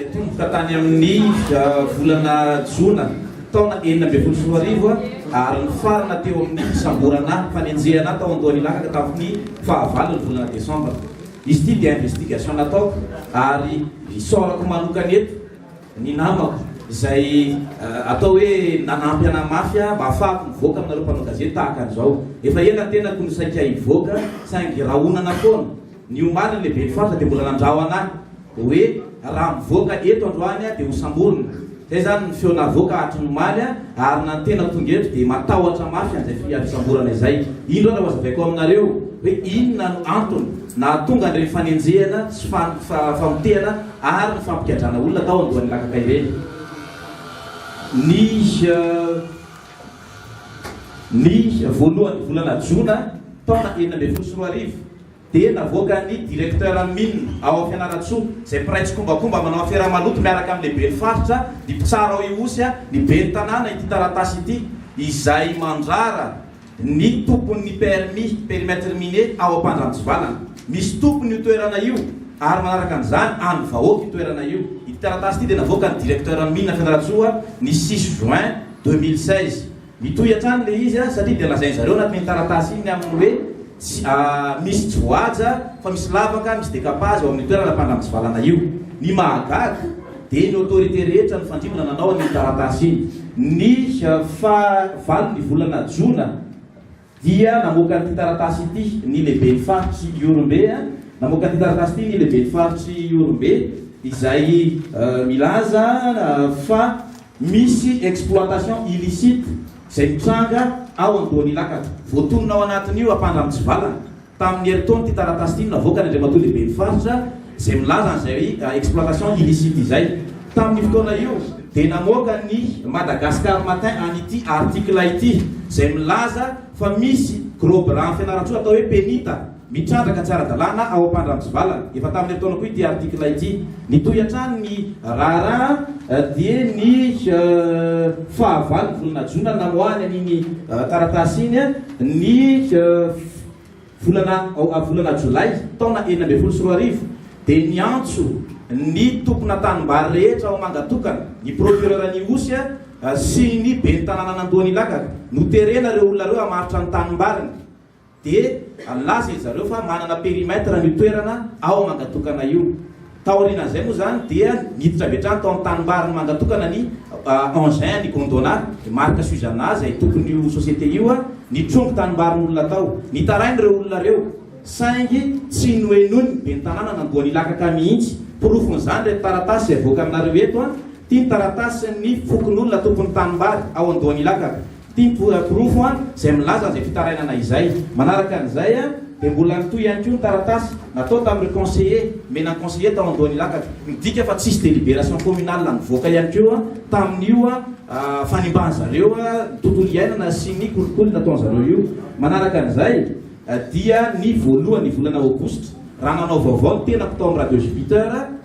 Nitomboka tany amin'ny volana jona taona enina ambin'ny folo sy roa arivo ary nifarana teo amin'ny fisamborana fanenjehana tao Andoharilaka tamin'ny fahavalon'ny volana desambra. Izy ity dia investigation nataoko ary isaorako manokana eto ny namako izay atao hoe nanampy anahy mafy mba hahafahako mivoaka aminareo mpanao gazety tahaka an'izao. Efa ela ny tenako no saika hivoaka saingy rahonana foana. Ny omaly ny lehiben'ny faritra dia mbola nandrahona ahy Dia hoe raha mivoaka eto androany dia hosamborina. Izay izany ny feo navoaka hatry ny omaly ary na ny tena tonga eto dia matahotra mafy an'izay fisamborana izay. Indro ary hazavaiko aminareo hoe inona no antony nahatonga an'ireny fanenjehana sy famotehana ary ny fampikadrana olona tao Andohanilakaka ireny. Ny voalohan'ny volana jona taona enina ambin'ny folo sy roa arivo, Dia navoakan'ny directeur Min ao Fianarantsoa, izay mpiray tsikombakomba manao afera maloto miaraka amin'ny lehiben'ny faritra, ny mpitsara ao Ihosy, ny ben'ny tanàna ity taratasy ity, izay mandrara ny tompon'ny permis, périmètre minier, ao Ampandranotsivalana. Misy tompony io toerana io ary manaraka an'izany an'ny vahoaka io toerana io. Ity taratasy ity dia navoakan'ny directeur Min Fianarantsoa ny six juin deux mille seize. Mitohy hatrany ilay izy an, satria dia lazainy zareo anatin'iny taratasy iny ny amin'ny hoe tsy misy tsy voahaja fa misy lavaka, misy décapage ao amin'ny toerana mpandramitsivalana io. Ny mahagaga dia ny autorité rehetra nifandrimbona nanao an'iny taratasy iny ny faha valo ny volana jona. dia namoaka an'ity taratasy ity ny lehiben'ny faritry Ihorombe a, namoaka an'ity taratasy ity ny lehiben'ny faritry Ihorombe izay milaza fa misy exploitation illicite izay mitranga ao Andohan'Ilakatra. Voatonona ao anatin'io ampandra mitsivalana. Tamin'ny herintaon'ity taratasy ity no navoaka ny Andriamatoa Lehiben'ny Faritra izay milaza an'izay exploitation illicite izay. Tamin'io fotoana io dia namoaka ny Madagascar Matin an'ity article ity izay milaza fa misy gros bras any Fianarantsoa atao hoe Penita mitrandraka tsy ara-dalàna ao Ampandramitsivalana. Efa tamin'ny herintaona koa ity article ity. Nitohy hatrany ny raharaha dia ny faha valo ny volana jona namoahany an'iny taratasy iny ny volana volana jolay taona enina ambin'ny folo sy roa arivo dia niantso ny tomponantanim-bary rehetra ao Mangatokana ny procureur Nihosy sy ny ben'ny tanànan'Andohan'Ilakaka noterena ireo olona ireo hamaritra ny tanimbariny dia nilaza izy zareo fa manana périmètre io toerana ao Mangatokana io Taorian'izay moa izany dia niditra avy hatrany tao amin'ny tanimbariny manga tokana ny engin ny Gondwana, ny marika Suzana izay tompon'io société io, nitrongy tanimbarin'olona tao. Nitaraina ireo olona ireo saingy tsy nohenoiny ny ben'ny tanàna nandoany lakaka mihitsy. Porofon'izany ireto taratasy izay avoakanareo eto, ity ny taratasin'ny fokonolona tompon'ny tanimbary ao Andohanilakaka. Ity porofo an izay milaza izay fitarainana izay. Manaraka an'izay an dia mbola nitohy ihany koa ny taratasy natao tamin'ireo conseillers, nomena ny conseillers tao Andohan'Ilakatra. Midika fa tsisy délibération communale nivoaka ihany koa an tamin'io an fanimbàn'i zareo an ny tontolo iainana sy ny kolikoly nataon'i zareo io. Manaraka an'izay dia ny voalohan'ny volana aogositra raha nanao vaovao ny tenako tao amin'ny radio Jupiter,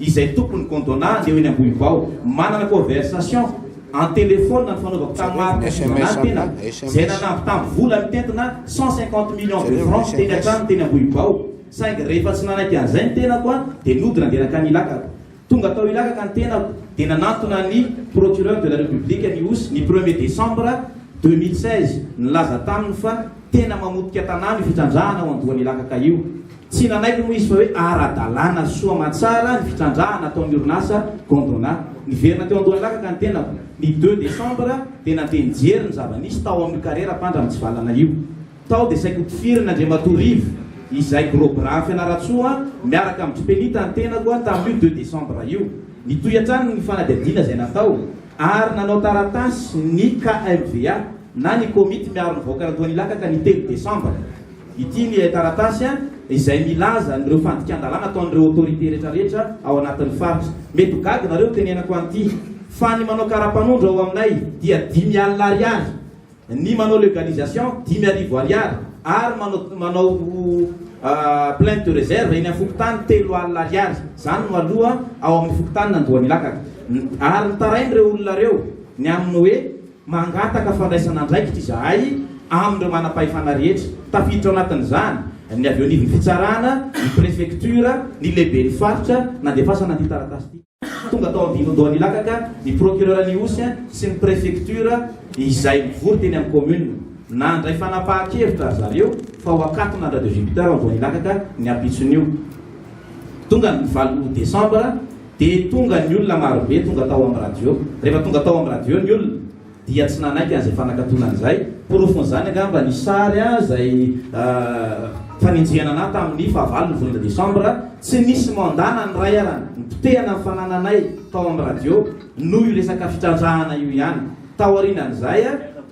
izay tompon'ny Gondwana eo eny Ambohivao. Manana conversation en telephone nifanaovako tamin'ny Marc Fizanan tena, izay nanamby tamin'ny vola mitentina cent cinquante millions de francs teny an-trano teny Ambohibao. Saingy rehefa tsy nanaiky an'izay ny tenako dia nody nandeha nankany Ilakaka. Tonga tao Ilakaka ny tenako dia nanantona ny Procureur de la République ny Osy ny premier décembre deux mille seize. Nilaza taminy fa tena mamotika tanàna io fitrandrahana ao Andohan'Ilakaka io. Tsy nanaiky moa izy fa hoe ara-dalàna soa aman-tsara ny fitrandrahana ataon'ny orinasa Gondwana. Niverina teo Andohalakaka ny tenako. Ny deux décembre dia nandeha nijery ny zava-nisy tao amin'io karera mpandra mitsivalana io. Tao dia saika hotifirin'i Andriamatoa Rivo, izay gros bras Fianarantsoa, miaraka amin-dry Penita ny tenako tamin'io deux décembre io. Nitohy hatrany ny fanadihadiana izay natao ary nanao taratasy ny KMVA na ny Komity miaro ny vahoakan'Andohanilakaka ny telo décembre. Ity ny taratasy izay milaza an'ireo fandikan-dalàna ataon'ireo autorités retraretra ao anatin'ny faritra. Mety ho gaga nareo tenenako an'ity fa ny manao karapanondro ao aminay dia dimy alina ariary, ny manao legalisation dimy arivo ariary ary manao manao plainte de reserve eny amin'ny fokontany telo alina ariary. Izany no aloha ao amin'ny fokontanin'Andohanilakaka. Ary nitarain'ireo olona ireo ny amin'ny hoe Mangataka fandraisana andraikitra izahay amin'ireo manam-pahefana rehetra, tafiditra ao anatin'izany ny avy eo anivon'ny fitsarana, ny prefektiora, ny lehiben'ny faritra nandefasana an'ity taratasy ity. Tonga tao Ambinondohanilakaka ny procureur Anihosy sy ny prefektiora izay mivory teny amin'ny kaominina. Nandray fanapahan-kevitra ry zareo fa ho akatona any Radio Jupiter ao Andohanilakaka ny ampitson'io. Tonga ny valo desambra. Dia tonga ny olona marobe tonga tao amin'ny radio. Rehefa tonga tao amin'ny radio ny olona dia tsy nanaiky an'izay fanakatona an'izay. Porofon'izany angamba ny sary izay fanenjehana anà tamin'ny fahavalon'ny volana desambra. Tsy nisy mandat na ny iray ara. Nipotehana ny fanananay tao amin'ny radio noho io resaka fitrandrahana io ihany. Taorianan'izay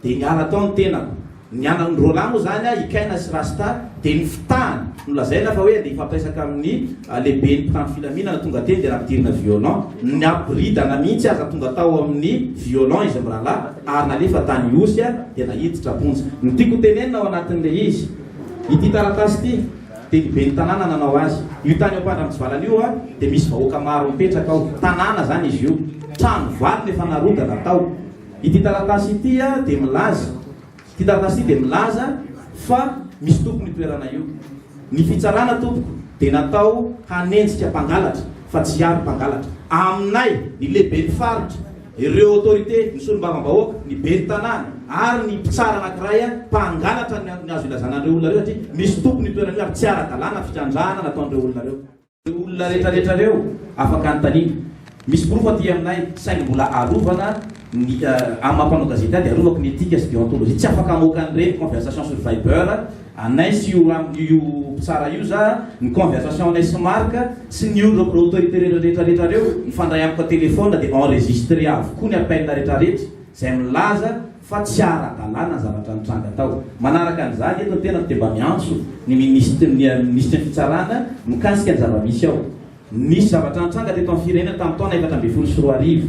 dia niala tao ny tenako. Ny anan'i Roland moa izany, i Kaina sy Rasta, dia ny fitahany no lazaina fa hoe andeha hifampiresaka amin'ny lehiben'ny mpitandro filaminana tonga teny dia nampidirina violon, nampiboridana mihitsy aza tonga tao amin'ny violon izy mirahalahy ary nalefa tany Ihosy dia naiditra am-ponja. Ny tiako hotenenina ao anatin'ilay izy, ity taratasy ity dia ny ben'ny tanàna nanao azy. Io tany Ampandramitsivalana io dia misy vahoaka maro mipetraka ao, tanàna izany izy io, trano valona efa narodana tao. Ity taratasy ity dia milaza, ity taratasy ity dia milaza fa misy tompony io toerana io. Ny fitsarana tompoko dia natao hanenjika mpangalatra fa tsy hiaro mpangalatra. Aminay, ny lehiben'ny faritra, ireo autorité, ny solombavambahoaka, ny ben'ny tanàna ary ny mpitsara anankiray mpangalatra no azo ilazana an'ireo olona ireo satria misy tompony io toerana io ary tsy ara-dalàna ny fitrandrahana nataon'ireo olona ireo. Ireo olona rehetrarehetra ireo afaka anontaniana. Misy porofo aty aminay, saingy mbola arovana ny amin'ny maha mpanao gazety ahy dia arovako ny etika sy déontologie. Tsy afaka hamoaka an'ireny conversation sur viber anay sy io ram io mpitsara io za, ny conversation anay sy Marc sy ny olona ireo autorité rehetrarehetra ireo mifandray amiko an-téléphone dia enregistré avokoa ny appel rehetrarehetra izay milaza fa tsy ara-dalàna ny zavatra nitranga tao. Manaraka an'izany, eto ny tenako dia mba miantso ny Minisitry ny Minisitry ny Fitsarana mikasika ny zava-misy ao. Nisy zavatra nitranga teto amin'ny firenena tamin'ny taona efatra ambin'ny folo sy roa arivo,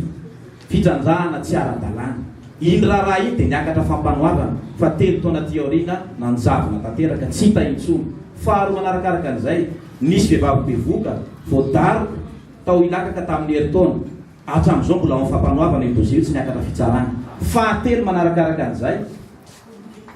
fitrandrahana tsy ara-dalàna. Iny raharaha iny dia niakatra Fampanoavana fa telo taona aty aoriana nanjavona tanteraka, tsy hita intsony. Faharoa manarakaraka an'izay, nisy vehivavy bevoka, voadaroka, tao Ilakaka tamin'ny herintaona. Hatramin'izao mbola ao amin'ny fampanoavana io dosie io, tsy niakatra fitsarana. Fahatelo manarakaraka an'izay,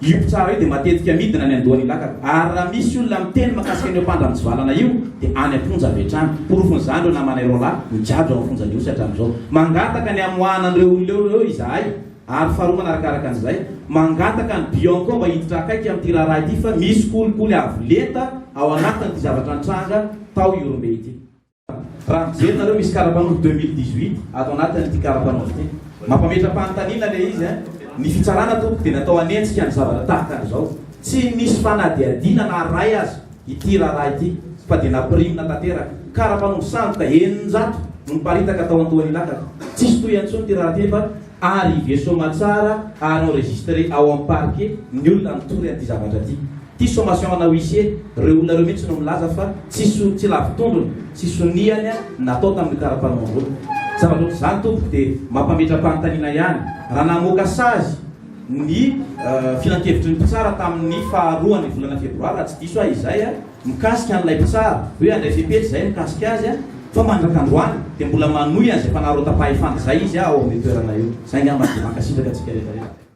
io mpitsara io dia matetika midina any an-dohan'ny lakaka, ary raha misy olona miteny mahakasika an'io mpandramitsivalana io dia any am-ponja avy hatrany. Porofon'izany ireo namanay roa lahy migadra ao amin'ny fonja Nosy hatramin'izao. Mangataka ny hamoahana an'ireo olona eo ireo izahay. Ary faharoa manarakaraka an'izay, mangataka ny Bianco mba hiditra akaiky amin'ity raharaha ity fa misy kolikoly avo lenta ao anatin'ity zavatra nitranga tao Ihorombe ity. Raha mijery nareo misy karapanondro deux mille dix huit ato anatiny ity karapanondro ity. Mampametra-panontaniana ilay izy an! Ny fitsarana tompoko dia natao hanenjika ny zavatra tahaka an'izao. Tsy nisy fanadihadiana na iray aza ity raharaha ity fa dia nampirimina tanteraka. Karapanondro sandoka eninjato no niparitaka tao Antohanilakaka. Tsisy tohiny intsony ity raharaha ity nefa arrivé soamantsara ary enregistré ao amin'ny parquet ny olona nitory an'ity zavatra ity. Ity sommation ana huissier reo olona reo mihitsy no milaza fa tsy so tsy lavo tondrony sy soniany natao tamin'io karapanondrony. Zavatra ohatr'izany tompoko dia mampametra-panontaniana ihany raha namoaka sazy ny filankevitry ny mpitsara tamin'ny faha roan'ny volana febroary raha tsy diso ahy izay a, mikasika an'ilay mpitsara hoe handray fepetra izay mikasika azy a, fa mandrak'androany dia mbola manohy an'izay fanarotapahefana izay izy a ao amin'io toerana io. Izay ngamba dia mankasitraka antsika rehetra rehetra.